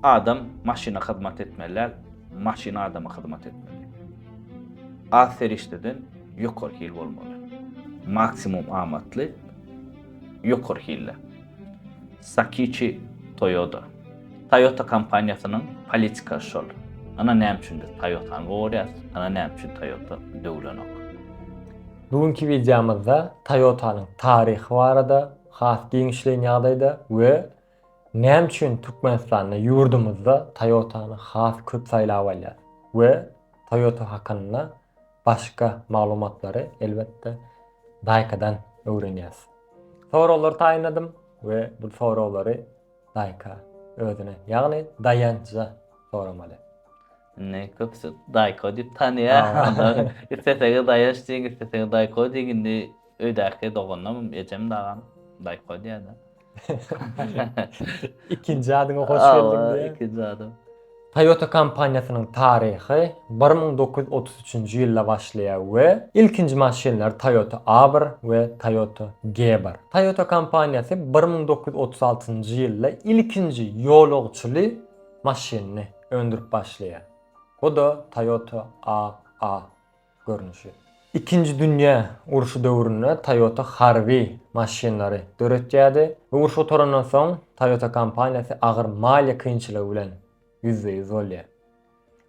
Adam maşyna hyzmat etmeli däl, maşyn adama hyzmat etmeli. Az serişdeden ýokary hil bolmaly. Maksimum amatly ýokary hilli. Sakiçi Toyoda. Toyota kompaniýasynyň politika şol. Ana näme üçindir Toyotany gorýas, ana näme üçin Toyota döwlenok. Bugünki wideomyzda Toyotanyň taryhy barada has giňişleýin ýagdaýda we Näme üçin Türkmenistanda ýurdumyzda Toyota-ny has köp saýlap alýar we Toyota hakynda başga maglumatlary elbetde Daýkadan öwrenýäs. Soraglar taýynladym we bu soraglary Daýka özüne ýagny Daýança soramaly. Indi köpüsi Daýko diýip tanaýar. Isleseňiz Daýanç diýiň, isleseňiz Daýko diýiň. Indi öýdäki doganlarym, ejem, dagam Daýko diýýärler. Ikinji adyňa hoş geldiň diýýär. Ikinji adym. Toyota kompaniýasynyň taryhy 1933-nji ýylda başlaýar we ilkinji maşynlary Toyota A-bir we Toyota G-bir. Toyota kompaniýasy 1936-njy ýylda ilkinji ýolagçyly maşynyny öndürip başlaýar. Bu-da Toyota A-A. görnüşi. Ikinji dünýä urşy döwründe Toyota harby maşynlary döretýärdi we uruş gutarandan soň Toyota kompaniýasy agyr maliýe kynçylygy bilen ýüzbe-ýüz bolýar.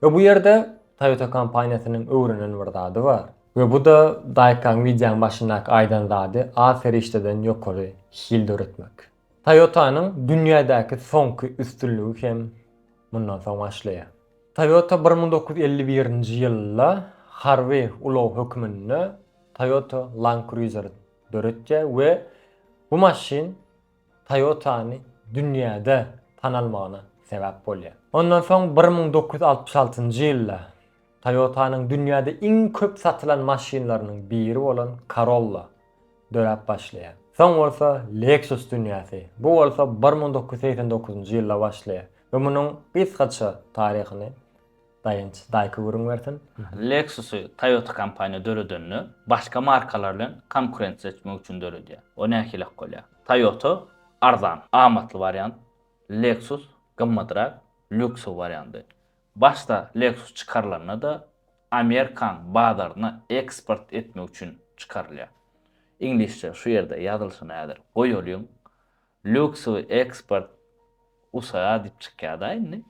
We bu ýerde Toyota kompaniýasynyň öwrenen bir zady bar. We bu-da Daýkaň wideoň başyndaky aýdan zady az serişdeden ýokary hil döretmek. Toyota-nyň dünýädäki soňky üstünligi hem mundan soň başlaýar. Toyota bir müň dokuz ýüz elli birinji ýylda harby ulag hökmünde Toyota Land Cruiser döretýär we bu maşyn Toyota-ny dünýäde tanalmagyna sebäp bolýar. Ondan soň bir müň dokuz ýüz altmyş altynjy ýylda Toyota-nyň dünýäde iň köp satylan maşynlarynyň biri bolan Corolla döräp başlaýar. Soň bolsa Lexus dünýäsi, bu bolsa bir müň dokuz ýüz segsen dokuzynjy ýylda başlaýar we munuň gysgaça taryhyny Daýanç daýka gürrüň bersin. Lexus-y Toyota kompaniýa döredende, başga markalar bilen konkurensiýa etmek üçin döredýär. O nähilek bolýar? Toyota, arzan, amatly wariant, Lexus, gymmadrak, lýuksowy wariandy. Başda Lexus çykarylanda-da, Amerikan bazaryna eksport etmek üçin çykarylýar. Iňlisçe şu ýerde ýazylyşyny häzir goýalyň. Luxury export USA diýip çykýar-da indi.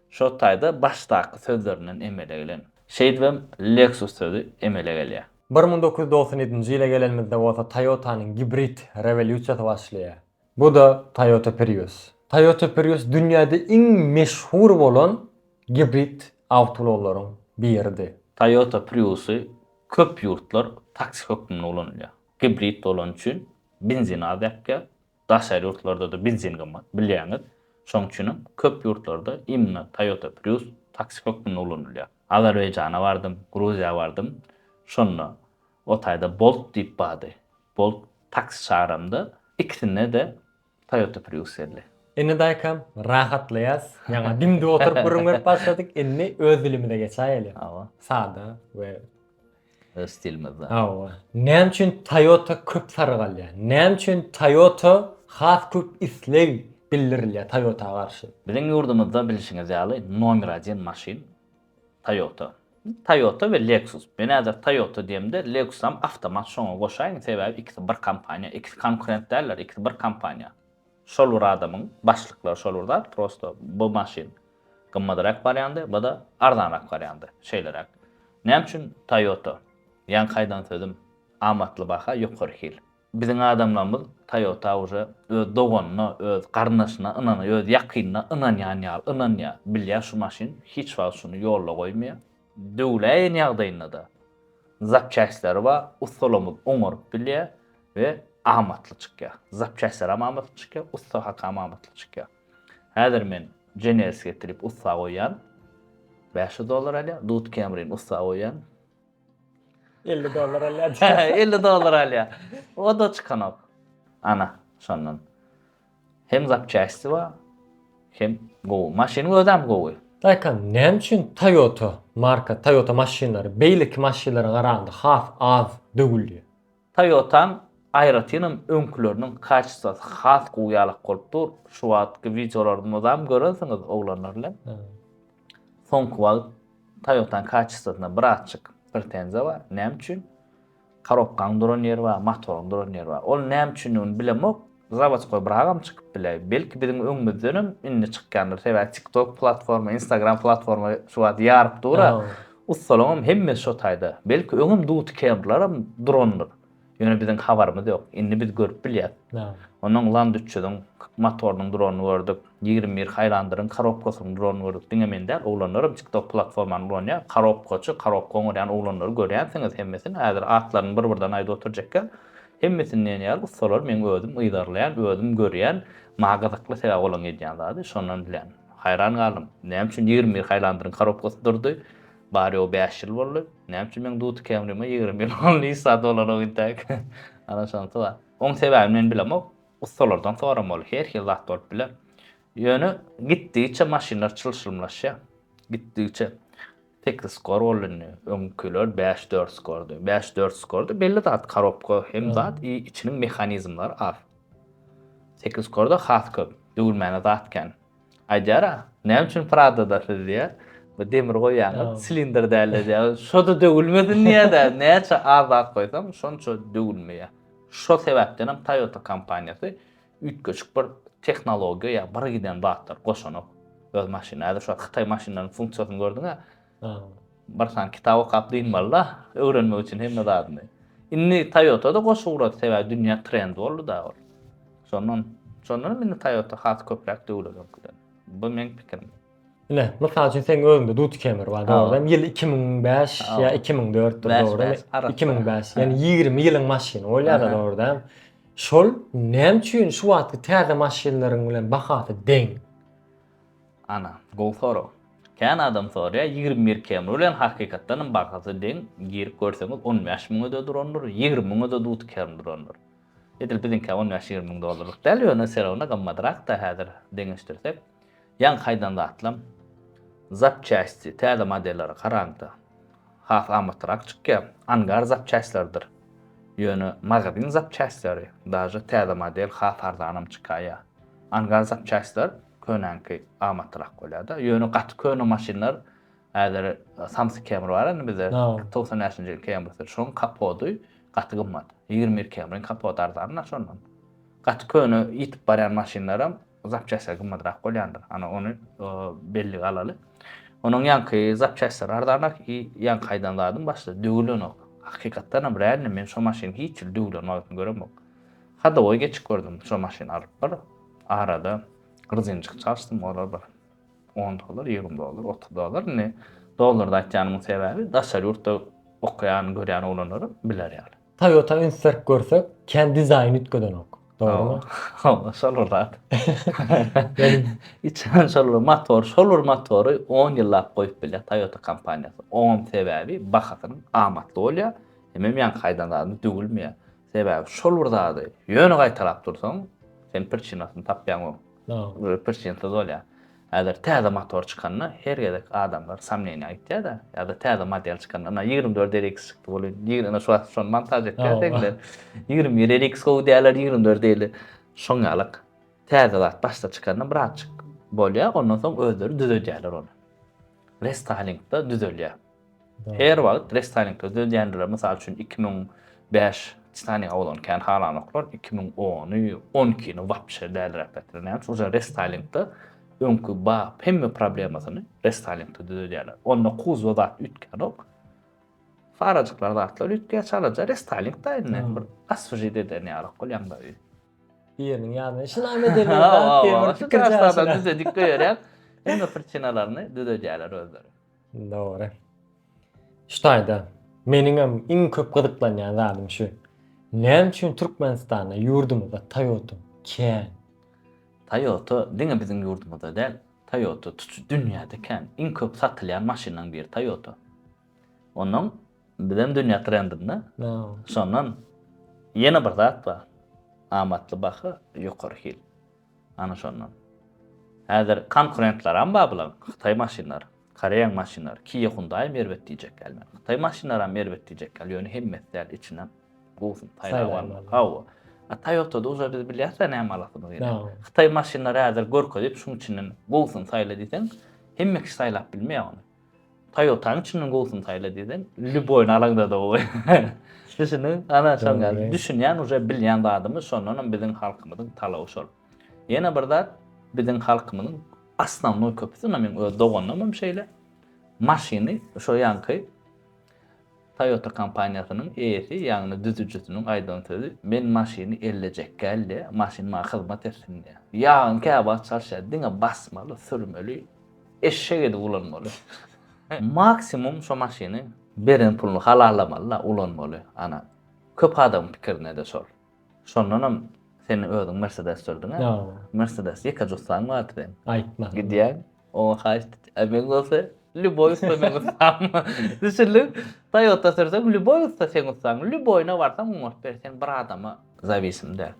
Şo taýda başdaky sözlerinden emele gelen. Şeýdibem Lexus sözi emele gelýär. Bir müň dokuz ýüz dogsan ýedinji ýyla gelenimizde bolsa Toyota-nyň gibrid rewolýusiýasy başlaýar. Bu-da Toyota Prius. Toyota Prius dünýäde iň meşhur bolan gibrid awtoulaglaryň biridi. Toyota Prius-y köp ýurtlar taksi hökmünde ulanylýar. Gibrid bolany üçin benzin az ýakýar. Daşary ýurtlarda-da benzin gymmat, bilýäňiz. Şonuň üçin hem köp ýurtlarda imенно Toyota Prius taksi hökmünde ulanylýar. Azerbaýjana bardym, Gruziýa bardym. Şonda O taýda Bolt diýip bardy. Bolt taksi çagaramda, ikisinde-de Toyota Prius geldi. Indi daýkam rahatlaýas. Ýaňa dim-dik oturyp gürrüň berip başladyk. Indi öz dilimize geçäýeli. Hawa. Sada we. Öz stilimizde. Hawa. Näme üçin Toyota köp saryk alýar? Näme üçin Toyota has köp isleg bildirilýär Toyota garşy? Biziň ýurdumyzda bilşiňiz ýaly nomer aden maşyn Toyota. Toyota we Lexus. Men häzir Toyota diýemde, Lexusam awtomat şoňa goşaýyn, sebäbi ikisi bir kompaniýa, ikisi konkurent däldir, ikisi bir kompaniýa. Şol bir adamyň, başlyklary şol bir zat, prosto bu maşyn gymmadrak barýandy, bu-da arzanrak barýandy, şeýleräk. Näme üçin Toyota? Ýaňky aýdan sözüm, amatly baha, ýokary hil. Biziň adamlarymyz Toyota uje öz doganyna, öz garyndaşyna ynanýar, öz ýakynyna ynanýan ýaly ynanýar. Bilýär şu maşyn hiç wagt şuny ýolda goýmaýar. Döwläýen ýagdaýynda-da zapçastleri bar, ussalarymyz oňaryp bilýär we amatly çykýar. Zapçastler hem amatly çykýar, ussa haky hem amatly çykýar. Häzir men Generskiýa getirip ussa goýýan, bäş ýüz dollar alýar, Dut Camry-ni ussa goýýan, 50 dollar alýar. 50 dollar alýar. O da çykanok. Ana, şondan. Hem zapçasti bar, hem gowy. Maşynyň özi hem gowy. Daýka, näme üçin Toyota marka, Toyota maşynlary beýleki maşynlara garanda has az döwülýär? Toyota'ň aýratynam öňküleriniň kaçestasy has gowy ýalak bolup dur, şu wagtky wideolary mydam görensiňiz oglanlar bilen. Soňky wagt Toyota'ň kaçestasyna birazçyk pretenziýa bar, näme üçin? Korobkaň duran ýeri bar, motoryň duran ýeri bar. Ol näme üçindigini bilemok. Zawodskoý biragam çykyp biler. Belki biziň öňümizdenem indi çykýandyr. Sebäbi TikTok platforma, Instagram platforma şu wagt ýaryp dur-a. Ussalaňam hemmesi şo taýda. Belki öňem duty kemrlaram durandyr. Ýöne biziň habarymyz ýok. Indi biz görüp bilýäs. Onnoň Land üç ýüzüň motorynyň duranyny gördük. Ýigrimi bir Haýlandyryň korobkasynyň duranyny gördük. Diňe men däl, oglanlaram TikTok platformany ulanýar. Korobkaçy, korobka oňarýan oglanlary görýänsiňiz hemmesini. Häzir atlaryny bir-birden aýdyp oturjak ýok. Hemmesinden ýaly ussalar meň özüm yzarlaýan, özüm görýän, maňa gyzykly sebäbi olaryň edýän zady şondan bilýän. Haýran galdym. Näme üçin ýigrimi bir haýlandyryň korobkasy durdy? Bary-ýogy bäş ýyl boldy. Näme üçin meň Duty Camry-ma ýigrimi ýyl boldy hiç zat bolanok intäk? Ana şonysy bar. Oň sebäbini men bilemok. Ussalardan soramaly. Her hili zat bolup biler. Ýöne gitdigiçe maşynlar çylşyrymlaşýar. Gitdigiçe. Sekiz skor boldy indi. Öňkiler bäş dört skordy. Bäş dört skordy. Belli zat korobka hem zat i içiniň mehanizmleri az. Sekiz skorda has köp. Döwülmäne zat kän. Aýdýara, näme üçin Pradada siz diýä, bu demir goýýaňyz, silindr dälde diýä. Şoda döwülmesin diýä-de, näçe az zat goýsaň, şonça döwülmeýä. Şo sebäpdenem Toyota kompaniýasy Üýtgeşik bir tehnologiýa ýa bir giden zatlar goşanak öz maşyny. Häzir şu hytaý maşynlarynyň funksiýasyny gördüňä? Bir sany kitap okap dynmaly-da, öwrenmek üçin hemme zadyny. Indi Toyota-da goşa ugrady, sebäbi dünýä trend boldy-da ol. Şondan, şondanam indi Toyota has köpräk döwledi öňküden. Bu meň pikirim. Ine, mysal üçin seň özüňde duty kemer bar, dogry. Ýyl 2005 ýa 2004 dir, dogry. 2005. Ýani 20 ýylyň maşyny bolýar, dogry. Şol näme üçin şu wagtky täze maşynlaryň bilen bahasy deň? Ana, gowy sorag. Kän adam soraýar, 21 kemer bilen hakykatdan hem bahasy deň, girip görseňiz 15 müňe-de durandyr, 20 müňe-de duty kemer durandyr. Edil biziňkä 15-20 müň dollarlyk däl, ýöne serawna gymmadrak-da häzir deňeşdirsek. Ýaňky aýdan zatlam, zapçästi, täze modellere garanda, has amatlyrak çykýar. Angar zapçästleridir. Ýöne magazin zapçästleri, daže täze model has arzanam çykaýýar. Angar zapçästler könäňki amatlyrak bolýar-da. Ýöne gaty köne maşynlar, häzir Samsy Camry bar indi bizde, togsan bäşinji ýyl Camrysy, şonuň kapody gaty gymmat. Ýigrimi bir Camryň kapody arzan-da şondan. Gaty köne ýitip barýan maşynlaram zapçastlar gymmatrak bolýandyr. Ana ony bellige alaly. Onuň ýaňky zapçastlary arzanrak i ýaňky aýdan zadym başda döwülenok. Hakykatdanam realny men şo maşyny hiç ýyl döwülen wagtyny göremok. Hadowoý geçip gördüm şo maşyny alyp bir arada grzinjik çalyşdym olar bir on dollar, ýigrimi dollar, otuz dollar. Indi dollarda aýtýanymyň sebäbi daşary ýurtda okaýan, görýän oglanlaram biler ýaly. Toyota üns berip görsek, kän dizaýn üýtgedenok. Dogrymy? Hawa, şol bir zat. Içen şol bir motor, şol bir motory 10 ýyllap goýup bilýär Toyota kompaniýasy. Oňam sebäbi bahasynyň amatly bolýar, hemem ýaňky aýdan zadymy döwülmeýär. Sebäbi şol bir zady ýöne gaýtalap dursaň, sen prçinasyny tapýaňok. Prçinsiz bolýar. Häzir täze motor çykanda her gezek adamlar samneniýa aýtýada ýada täze model çykanda ynha ýigrimi dört RX çykdy bolin ýigri ynha şu wagt şony montaž etýär degler ýigrimi bir RX gowy dälär ýigrimi dört eýle şoň ýalak täze zat başda çykanda birazjyk bolýar ondan soň özleri düzedýärler ony restaýlingda düzelýär. Her wagt restarningde dödýändiler, mysal üçin iki müň bäş Titanik awalan kän halanoklar, iki müň ony, on ikini wapşe dälräk getiren, näme üçin, şol restarningde öňki ba hemme problemasyny restarningde dödýärler, onda kuzwa zat üýtgänok, farajyklar zatlar üýtgeýär çalaja, restarning da indi bir aswžit eden ýalak bolýaň da öýi. Biriniň ýanyna işi name edenler bar, howwa, şuny düzedik goýarýar, hemme prichinalaryny dödedýärler özleri. Dogry. Şu taýda meniňem iň köp gyzyklanýan zadym şu. Näme üçin Türkmenistanda, ýurdumyzda Toyota kän? Toyota diňe biziň ýurdumyzda däl, Toyota tutuş dünýäde kän. Iň köp satylýan maşynlaryň biri Toyota. Ondan bizem dünýä trendinde. Şondan ýene bir zat bar. Amatly baha, ýokary hil. Ana şondan. Häzir konkurentlaram bar bularyň. Hytaý maşynlary, Koreýaň maşynlary, Kia Hyundai'm erbet diýjek ýaly men. Hytaý maşynlaram erbet diýjek ýaly, ýöne hemmesi däl, içinden gowusyny saýlap almaly. Hawa. A Toyota'da uje biz bilýäs-ä näme alasymyz gelýän. Hytaý maşynlary häzir görkezip, şunuň içinden gowusyny saýla diýseň, hemme kişi saýlap bilmeýär ony. Toyotany çynyň gowusyny saýla diýseň, lýuboýyny alaňda da gowy. Düşündiňiz? Ana şonuň ýaly. Düşünýän uje bilýän zadymyz, şondan hem biziň halkymyzyň talaby şol. Ýene bir zat, biziň halkymyzyň osnownoý köpüsi, ynha meň öz doganlarym hem şeýle, maşyny şo ýaňky, Toyota kompaniýasynyň eýesi, ýagny düzüjisiniň aýdan sözi, Men maşyny ellejek gälde, maşyn maňa hyzmat etsin diýýär. Ýagyň käwagt çalşýar, diňe basmaly, sürmeli, eşek edip ulanmaly. Maksimum şo maşyny beren puluny halallamaly-la, ulanmaly. Ana, köp adamyň pikirine-de şol. Şondanam sen özüň Mersedes sürdüň-ä? Ýa-a. Mersedes ýeke jussaň bardy seň. Aýtma. Gidýäň, oňa haýyşt et. Ä meň bolsa lýuboý ussa meň ussam. Düşündiň? Toýota sürseň, lýuboý ussa seň ussaň. Lýuboýuna barsaň oňaryp ber, sen bir adama zawisim däl.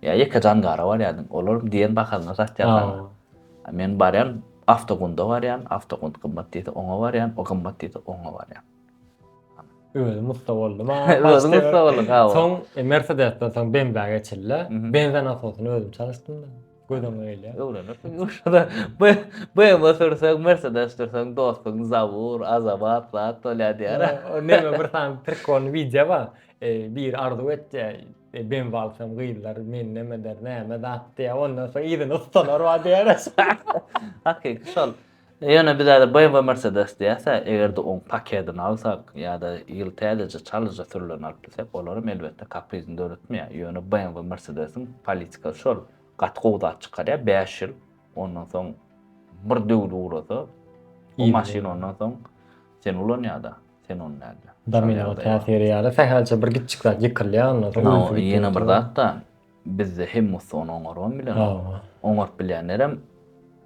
Ýa ýeke jangara barýardyň, olaram diýen bahasyna satýar saňa. Ýa-a. Men barýan, Awtogunda barýan, Awtogund gymmat diýse, oňa barýan, o gymmat diýse, oňa barýan. Özüm usta boldum. Özüm usta boldum. Soň e, Mercedesden soň BMW-e geçildi. BMW nasosyny özüm çalyşdym da. Gözüm öyle. Öwrenirsin. Uşada BMW sürseň, Mercedes sürseň, dostuň Zabur, Azabat, Zat bolýa diýär. Neme bir sany prikol wideo bar. E, bir arzuw etdi. E, BMW alsam gyzlar men neme der, näme zat diýär. Ondan soň ýerine ustalar bar diýär. Hakyky şol. Ýöne biz häzir BMW Mercedes diýäs-ä, eger-de oň paketini alsak ýa-da ýyl täzeje çalyja sürülerini alyp bilsek, olaram elbetde kaprizini döretmeýär. Ýöne BMW Mercedes-iň politikasy şol, gaty gowy zat çykarýar, bäş ýyl, ondan soň bir döwli ugrasa, o maşyn ondan soň sen ulanýar-da, sen ony nädip. Domino täsiri ýaly sähelçe bir gitjik zat ýykylýar ondan soň. Ýene bir zat-da, Bizde hem bolsa ony oňarman bilen oňaryp bilýänlerem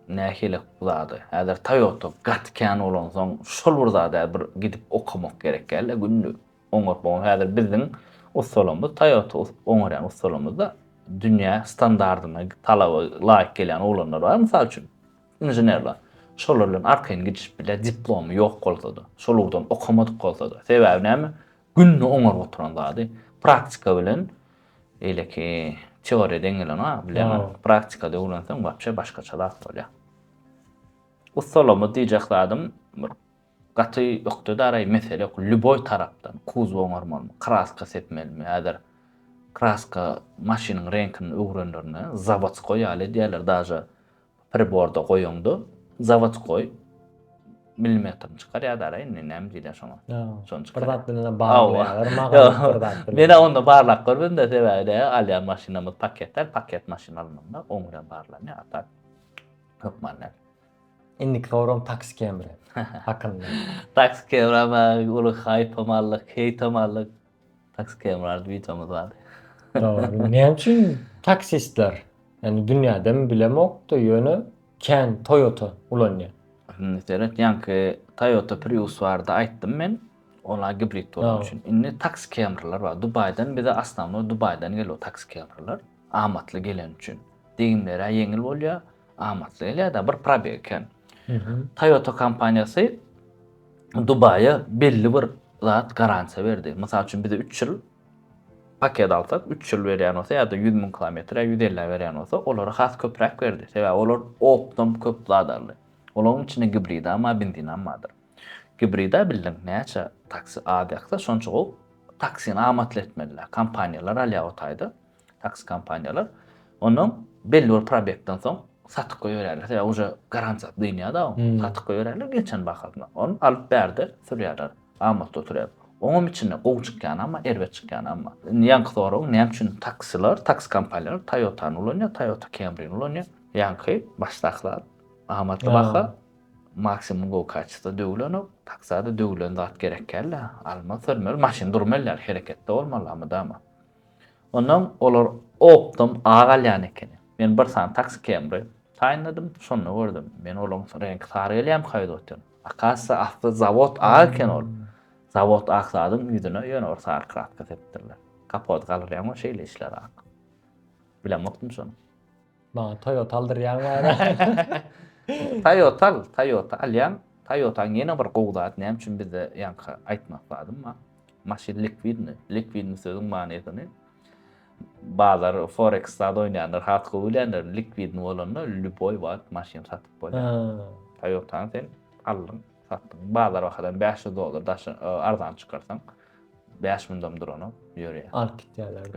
nähili zady. Häzir Toyota gaty kän bolansoň şol bir zada bir gidip okamak gerek dälde günde oňaryp bolan. Häzir biziň ussalarymyz Toyota oňarýan ussalarymyzda dünýä standardyna talaba laýyk gelýän oglanlar bar mysal üçin inženerler. Şolar bilen arkaýyn gidişip bilýär diplomy ýok bolsada, şol ugurdan okamadyk bolsada. Sebäbi näme? Günde oňaryp oturan zady praktika bilen eýleki teoriýa deň gelenok-a, bilemok. Aa. Praktikada öwrenseň wapşe başgaça zat bolýar. Ussalamyz diýjek zadym bir gaty ökde-daraý mesele ýok, lýuboý tarapdan kuzow oňarmalymy, kraska sepmelimi, häzir kraska maşynyň reňkini öwrenlerinde zawodskoý ýaly edýärler, daže priborda goýuňda zawodskoý milimetrini çykar ýa dara indi näme diýler şoňa. Şony çykar. Bir zat bilen baglaýarlar maga bir zat bilen. Men onda barlap görmedim de sebäbi de alýan maşynymyz paketler, paket maşyn alnanda oň bilen barlanýar a tak hökman näme. Indiki soram taksi kemri hakynda. Taksi kemri ama uly haýp hem aldyk, heýt hem aldyk. Taksi kemrardy videomuz bardy. Dogry. Näme üçin taksistler? Yani dünýädemi bilemokda ýöne kän Toyota ulanýar. Indi seret ýaňky Toyota Prius barada aýtdym men. Olar gibrid bolany üçin. Indi taksi kemrlar bar. Dubaýdan bize asnawno Dubaýdan gelýär taksi kemrlar. Amatly geleni üçin. Degimleri ýeňil bolýar, amatly gelýär-de bir probeg kän. Toyota kompaniýasy Dubaýa belli bir zat garansiýa berdi. Mysal üçin bize 3 ýyl paket alsak, 3 ýyl berýän bolsa ýa-da 100 müň kilometr ýa 150 berýän bolsa, olara has köpräk berdi. Sebäbi olar opdom köp zat aldy. Olaryň içinde gibrida bar, benzinam bardyr. Gibrida bildiň näçe taksi az ýaksa şonça gowy taksini amatly etmeliler. Kompaniýalar alýar o taýda. Taksi kompaniýalar ondan belli bir probekden soň satyp goýberýärler. Sebäbi uje garantiýasy dynýar-da, hmm. satyp goýberýärler geçen bahasyna. Ony alyp bärde sürýärler. Amatda oturýar. Oňam içinde gowy çykýan amma, erbet çykýan amma. Indi ýaňky sorag, näme üçin taksiler, taksi kompaniýalar Toyota-ny ulanýar, Toyota Camry-ni ulanýar. Ýaňky başdakylar amatly baha, maksimum gowy kaçysta döwülenok. Taksada döwülen zat gerek geldi. Alma sürmeli, maşyn durmaly, hereketde bolmaly, mydama. Onam olar opdom a galýan ekeni. Men bir sany taksi kemri taýynladym, şonda gördüm. Men olaň reňki sary gelýämi kaýdoten. Akasya asly zawod a eken ol. Zawod ak zadyň ýüzüne ýöne bir sary kraska sepdirler. Kapot galyrýaňmy şeýle işler ak. Bilemokdym şony. Maňa Toyota aldyrýaň bari. Toyota al, Toyota alýaň. Toyota ýene bir gowy zat, näme üçin bizde ýaňky aýtmak lazym bar. Maşyn likwidni, likwidni sözüň manysyny bazar forex zat oýnaýanlar has gowy bilýänler, likwidni bolanda lýuboý wagt maşyn satyp bolýar. Toyota sen aldyň, satdyň. Bazar bahadan 500 dollar daşy arzan çykarsaň, 5 mundam duranok, ýörýär. Alyp gitýärler.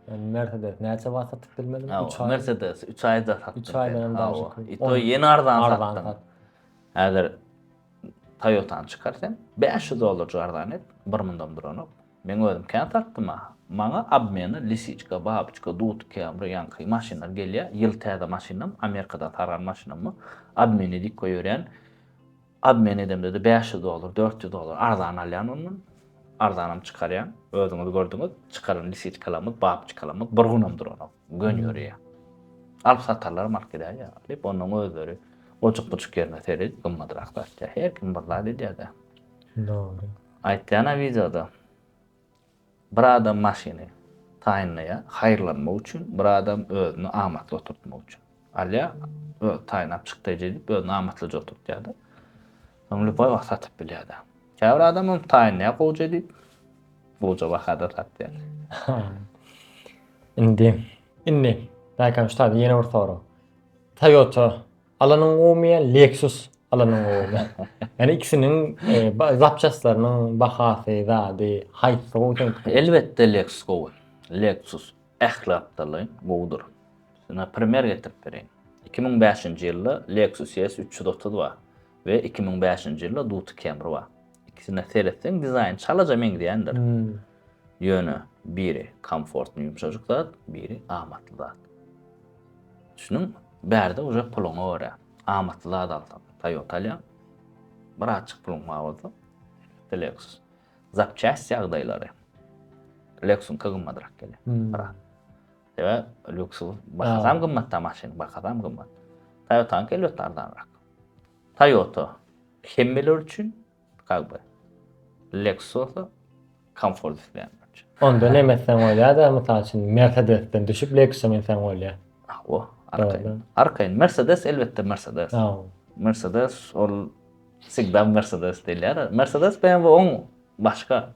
Mercedes näçe wagtda tikilmeli? 3 aý. Mercedes 3 aýda satdy. 3 aýdan hem daşy. Ito ýene arzan satdy. Häzir Toyota-ny çykar sen. 500 dollar jardan et. Bir mundam duranok. Men özüm kän satdym ha. Maňa obmeni lisiçka, babyçka, dut, kemri, ýaňky maşynlar gelýär. Ýyl täze maşynam, Amerikadan sargan maşynammy. Obmen edip goýberýän. Obmen edemde-de bäş ýüz dollar, dört ýüz dollar arzan alýan ondan. Arzanam çykarýan. Özüňiz gördüňiz, çykaran lisiçkalarymyz, babçykalarymyz bir günam duranok. Gön ýörýär. Alyp satarlaram alyp gidýär ýa. Diýip, onnoň özleri ojukbujuk ýerine seredip gymmadrak satýar. Her kim bir zat edýär-de. Dogry. Aýtýan-a wideoda. Bir adam maşyny taýynlaýar, haýyrlanmak üçin, bir adam özüni amatly oturtmak üçin. Alýar, özi taýynlap çykdaýjy edip, özüni amatlyja oturtýar-da. Soň lübaý wagt satyp bilýär-de. Käbir adam hem taýynlaýar gowja edip, gowja bahada satýar. Indi, indi, Daýkan ussat, ýene bir sorag. Toyota Alanyň gowymy ýa Lexus alanyň gowymy? Ýani ikisiniň zapçastlarynyň bahasy, zady, haýsy gowy seň pikirin? Elbetde Lexus gowy. Lexus ähli atdalaýyn gowudyr. Sana primer getirip bereýin. Iki müň bäşinji ýylda Lexus ES üç ýüz otuz bar we iki müň bäşinji ýylda Duty Camry bar. Ikisine seretseň dizaýny çalaja meňzeýändir. Ýöne biri komfortny ýumşajyk zat, biri amatly zat. Düşüniň, bärde uje puluňa görä, amatly zat alsaň, Toyota alýaň, birazjyk puluň bar bolsa, Lexus. Zapçäst ýagdaýlary Lexus-ka gymmadrak gelýär. Biraz. Sebäp Lexus bahasam gymmatda maşyn, bahasam gymmat. Toyota-nyňky elbetde arzanrak. Toyota hemmeler üçin Kak be. Lexus-a komfort isleýän bolja. Onda nem etseň bolýada, mysal üçin Mercedes-den düşüp Lexus-a münseň bolýa. Hawa, arkaýyn. Arkaýyn. Mercedes elbetde Mercedes. Hawa. Mercedes ol всегда Mercedes diýilýär. Mercedes BMW oň başga.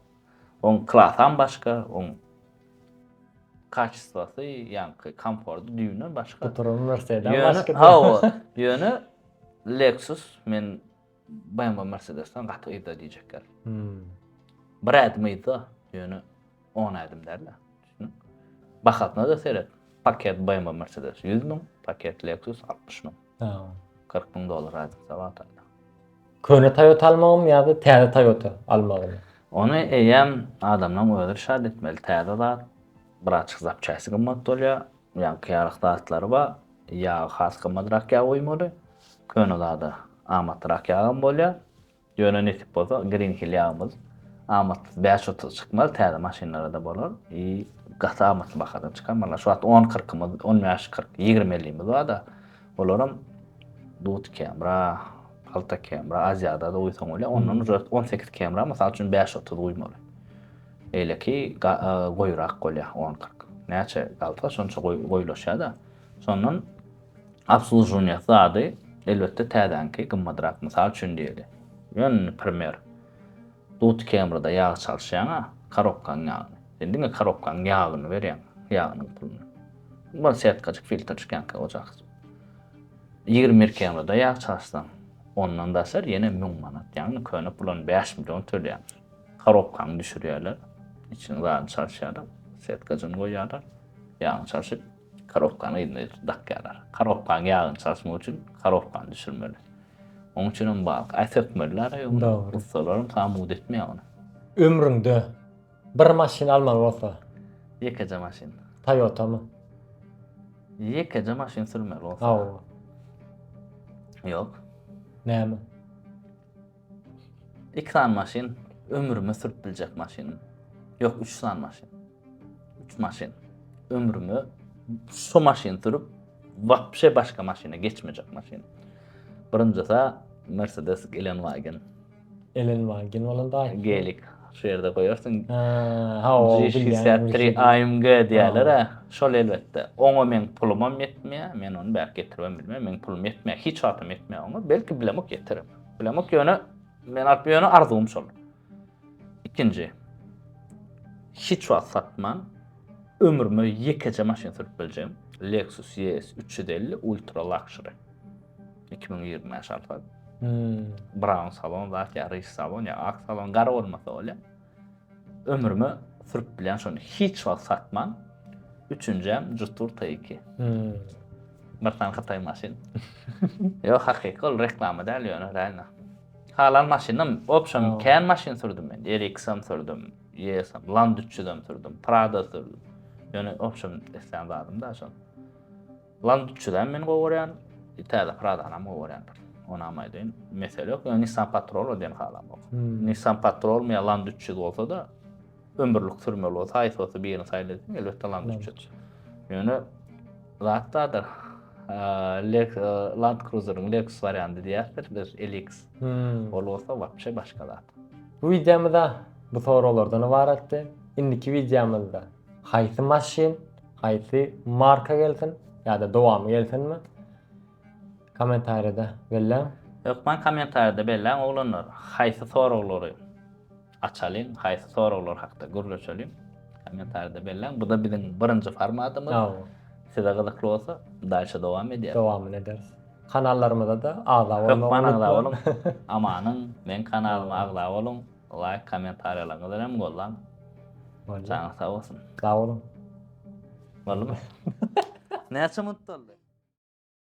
Oň klasam başga, oň kaçestwasy, ýaňky komforty düýbünden başga. Tuturymy Mercedes-den başga. Hawa. Ýöne Lexus men BMW Mercedesden gaty yzda diýjekler. Hmm. Bir ädim yzda, ýöne 10 ädim däl. Bahasyna da seret. Paket BMW Mercedes 100 müň, paket Lexus 60 müň. Ha. 40 müň dollar razylykda var taýda. Köne Toyota almagym ya da täze Toyota almagym? Onu eýem adamdan özür şad etmeli. Täze zat, bir açık zapçasi gymmat bolýar. Ýagtyýarlyk zatlary bar. Ýagy has gymmatrak ýag guýmaly. Köne zada amatlyrak ýagam bolýar. Ýöne nesip bolsa Green Hill ýagymyz amatsyz bäş otuz çykmaz, täze maşynlara-da bolar. I gaty amatly bahadan çykar. Maňa şu wagt on kyrkymyz, on bäş kyrk, ýigrimi ellimiz bar-da, olaram dud kemra, palta kemra, Aziada-da guýsaň bolýar. Ondan uje on sekiz kemra, mysal üçin bäş otuz guýmaly. Beýleki goýurak bolýar, on kyrk. Näçe galsa, şonça goýulaşýar-da. Şondan obslužuwniýa zady, elbetde, täzäňki gymmadrak. Mysal üçin diýeli, ýöne primer, Dut Kemrda ýag çalyşýaň-a, korobkaň ýagyny. Sen diňe korobkaň ýagyny berýäň, ýagynyň puluny. Bar, setkajyk filtr çykýanka ojak. Ýigrimi bir Kemrda ýag çalyşsaň, ondan daşary ýene müň manat, ýagny köne pula bäş million tölýäňiz. Korobkany düşürýärler. Içiniň zadyny çalyşýarlar. Setkajyny goýýarlar. Ýagyny çalşyp, korobkany yzyna dakýarlar. Korobkanyň ýagyny çalyşmak üçin korobkany düşürmeli. Onuň üçin hem bag, aý sökmeliler aý ony. Ussalaram samud etmeýär ony. Ömrüňde bir maşyn almaly bolsa. Ýekeje maşyn. Toyotamy? Ýekeje maşyn sürmeli bolsa. Hawa. Ýok. Näme? Iki sany maşyn ömrüme sürüp biljek maşynym ýok üç sany maşyn üç maşyn ömrüme şo maşyn sürüp wapşe başga maşyna geçmejek maşyn birinjisi mersedes gelenwagen Elen wagen bolan daýy. Gelik şu ýerde goýarsyň. Ha, o bilýän. 3 AMG diýerler. Şol elbetde. Oňa meň pulumam ýetmeýär. Men ony bäri getirmem bilmeýär. Meň pulum ýetmeýär. Hiç wagtam ýetmeýär oňa. Belki bilemok ýetirim. Bilemok ýöne men alyp ýöne arzuwym şol. Ikinji. Hiç wagt satman ömrüme ýekeje maşyn sürüp biljegim. Lexus ES 350 Ultra Luxury. 2025 alfa. Hmm. Brown salon zat ya, rich salon ya, ak salon, gara olmasa olya. Ömrüme sürüp bilyan şony hiç wagt satman. Üçünjem jutur tayyki. Hmm. Bir tane Hytay maşyn. Yo hakyky ol reklama däl ýöne reально. Halal maşynam opşam kän maşyn sürdüm men. RX-am sürdüm, YS-am, Land 300-am sürdüm, Prado sürdüm. Ýöne opşam isleýän zadym da şol. Lan dutçyzam men gowaryan, täze pradanyam gowaryan bir. Onam aýdaýyn, mesele ýok, ýöne Nissan Patrol-a diýen halamok. Nissan Patrolmy ýa Lan dutçyz bolsa-da, ömürlik sürmeli bolsa, haýsy bolsa birini saýla diýseň, elbetde Lan dutçyz. Ýöne zat bardyr, Land Cruiser-iň Lexus warianty diýýärsiz, biz LX. Ol bolsa wapşe başga zat. Bu wideomyz-a bu soraglardan ybaratdy. Indiki wideomyzda Haýsy maşyn, haýsy marka gelsin ýa-da dowamy gelsinmi? Kommentariýada belläň. Hökman kommentariýada belläň oglanlar, haýsy soraglary açalyň, haýsy soraglar hakda gürleşeliň? Kommentariýada belläň. Bu-da biziň birinji formatymyz. Hawa. Size gyzykly bolsa, daýşa dowam edýäris. Dowamyny ederis. Kanallarymyza-da agza bolmagy unutmaň. Hökman agza boluň. Amanyň, meň kanalyma agza boluň. Laýk kommentariýalaryňyzy hem gollan. Janyň sag bolsun. Sag boluň. Boldumy? Näçe minut boldy?